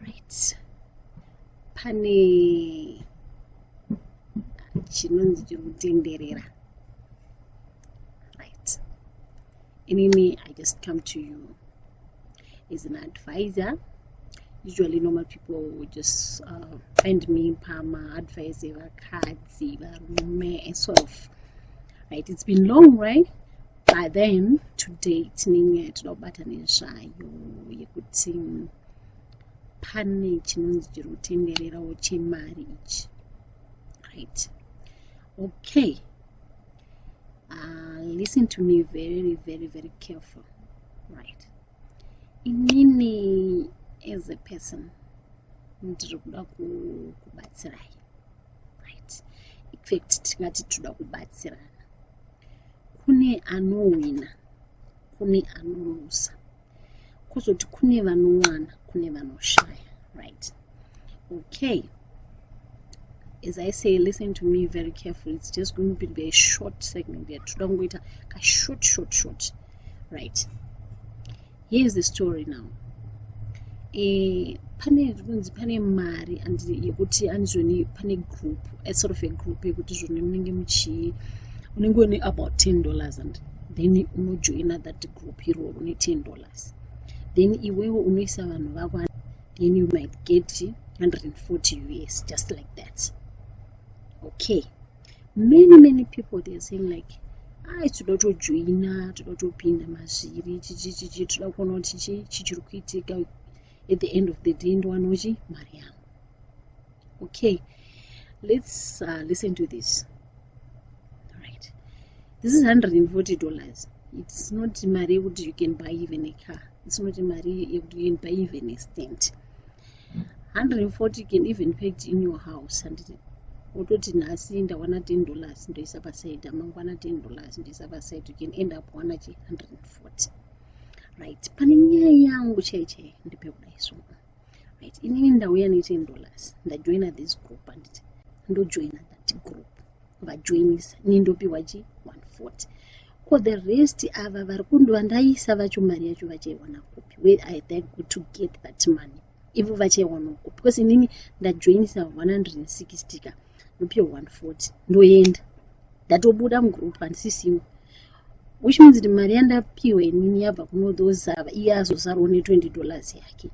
right pane chinonzi chiri kutenderera right inini i just come to you as an advisor usually normal people would just uh, find me pama advice evakadzi varume and sort of right it's been long right but then today tinenge toda kubata nezvayo yekuti pane chinonzi chiri kutendererawo chemari ichi right okay uh, listen to me very very very careful right inini as a person ndiri kuda kubatsirai right infact tingati tinoda kubatsirana kune anowina kune anolusa kuzoti kune vanowana kune vanoshaya right okay as i say listen to me very carefully it's just going to be a short segment there toda kungoita kashort short short right here is the story now e, pane zvinonzi pane mari and yekuti andizvoni pane group a sort of a group yekuti zvoni munenge muchii unenge une about ten dollars and then unojoina that group iroro ne ten dollars then iwewo unoisa vanhu vako then you might get 140 us just like that okay many many people theyare saying like ai toda tojoina toda topinda mazviri chichichichi toda kuona kuti chichi chichiri kuitika at the end of the day ndowanochi mari yangu okay let's uh, listen to this right this is 140 dollars it's not mari yekuti you can buy even a car it's not mari yekuti you can buy even a stent 140 can even packed in your house handiti wototi nhasi ndawana 10 dollars ndoisa paside amangwana 10 dollars ndoisa paside you can end up wana chi 140 right pane nyaya yangu chai chai ndipe kudai so right inini ndauya ne 10 dollars ndajoina this group handiti ndojoina that group vajoinisa ini ndopiwa chi 140 ko the rest ava vari kundiva ndaisa vacho mari yacho vachaiwana kupi where i thank good to get that money ivo vachaiwana kupi because inini ndajoinisa 160 ka ndopiwa 140 ndoenda ndatobuda mugroup handisi single which means kuti mari yandapiwa inini yabva kunodozava iye azozarwa ne 20 dollars yake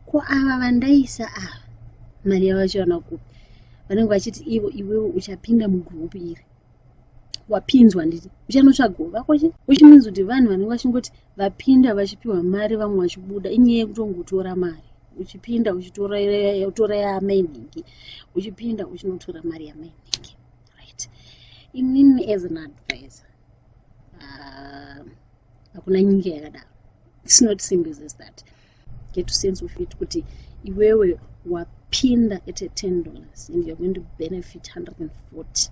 ko ava vandaisa ava mari yavachiwana kupi vanenge vachiti ivo iwewe uchapinda mugroup iri wapinzwa nditi uchanotsvagawo vako che which means kuti vanhu vanenge vachingoti vapinda vachipiwa mari vamwe vachibuda inyaya yekutongotora mari uchipinda uchitora yamainhingi uchipinda uchinotora mari yamainhingi right inini as an advisor ah, hakuna uh, nyika yakadaro its not simple as that get to sense of it kuti iwewe wapinda at a ten dollars and you're going to benefit 140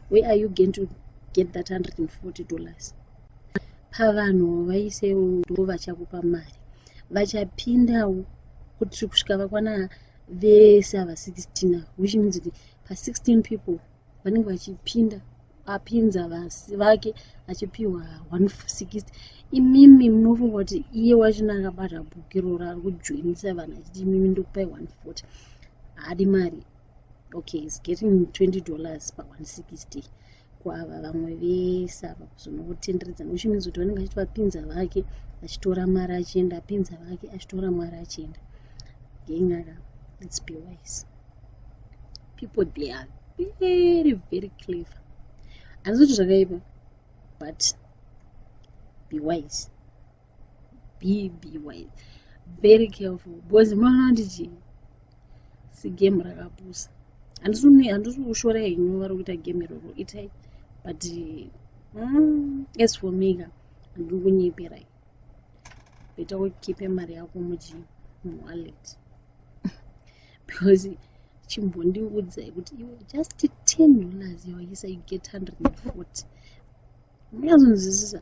where are you going to get that 140 dollars pavanhu vaisewo ndo vachakupa mari vachapindawo kuti kusvika vakwana vese ava 16 ava which means kuti pa16 people vanenge vachipinda apinza vasi vake achipiwa 160 imimi munofunga kuti iye wachina akabata bhuku iroro ari kujoinisa vanhu achiti imimi ndokupai 140 haadi mari okay is getting 20 dollars pa 160 kwava vamwe vese ava kuzonotenderedza nekuti means kuti vanenge vachiti vapinza vake achitora mwari achienda apinza vake achitora mwari achienda ngenyaya let's be wise people they are very very clever handisi kuti zvakaipa but be wise be be wise very careful because munoona kuti chii sigame rakapusa handisi kushora henyu vari kuita game iroro itai but mm, as for me ka handiri kunyeperai beta ukipe mari yako muchi muwallet because chimbondiudzai kuti iwe just ten dollars yawaisa you get hundred and forty munazonzwisisa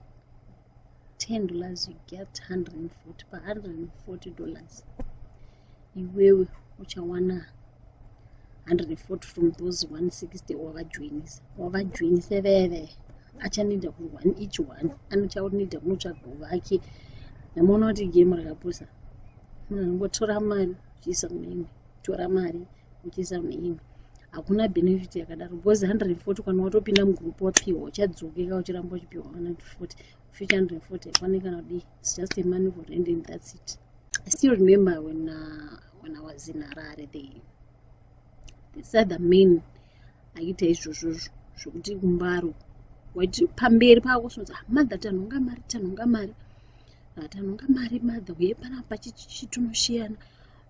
10 dollars you get 140 pa 140 dollars iwewe uchawana 140 from those 160 wavajoinisa wavajoinisa veve achanoita ku one each one anochaonita kunotsvaga vake namuona kuti game rakapusa munhu anongotora mari zviisa muimwe tora mari kuchisa muimwe hakuna benefit yakadaro because 140 kana watopinda mugroup wapiwa uchadzokeka uchiramba uchipiwa 140 future 140 haikwane kana kudii its just a money for rent and that's it i still remember when, uh, when i was in harare they, they said the main aita izvozvozvo zvokuti kumbaro waiti pamberi pako sonza ah, mother tanhonga mari tanhonga mari ah, tanhonga mari mother uye panapa chichitunoshiyana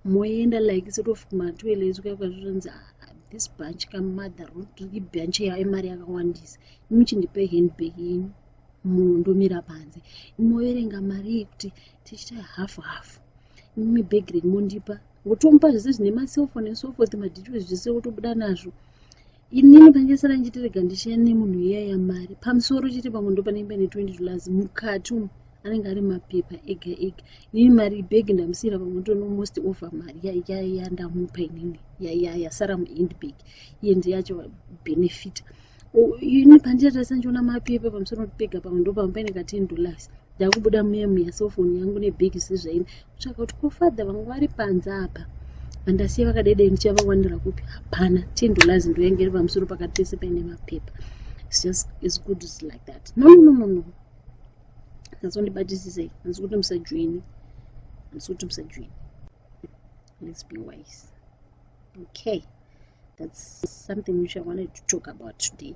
moenda like sort of kumatoilet kuya kwazvizonzi ah, this bunch kamother ibunch yayo imari yakawandisa imi chindipe handbag yenyu munhu ndomira panze imoverenga mari iyi kuti tichita half half imi bag renyu mondipa wotomupa zvese zvine maselfone and so forth madetails zvese wotobuda nazvo inini pangesara njitirega ndichiya nemunhu iya yamari pamusoro chete pamwe ndopanenge pane 20 dollars mukati umu anenge ari mapepa ega ega inini mari beg ndamusiyira pamwe ndono most over mari yaiya ndamupa inini yaiya yasara muend bag iye ndiye yacho benefita ini pandichatarisa ndichiona mapepa pamusoro pega pamwe ndopamwe paine ka 10 dollars ndakubuda muye muya sofoni yangu nebig sizvaini kutsvaka kuti kofadha vangu vari panze apa vandasiya vakadedei ndichavawanira kupi hapana tindolazi ndoyenge iri pamusoro pakati pese paine mapepa like that no no no no ndazondibatisisei handisi kuti musajoini handisi kuti musajoini let's be wise okay that's something which i wanted to talk about today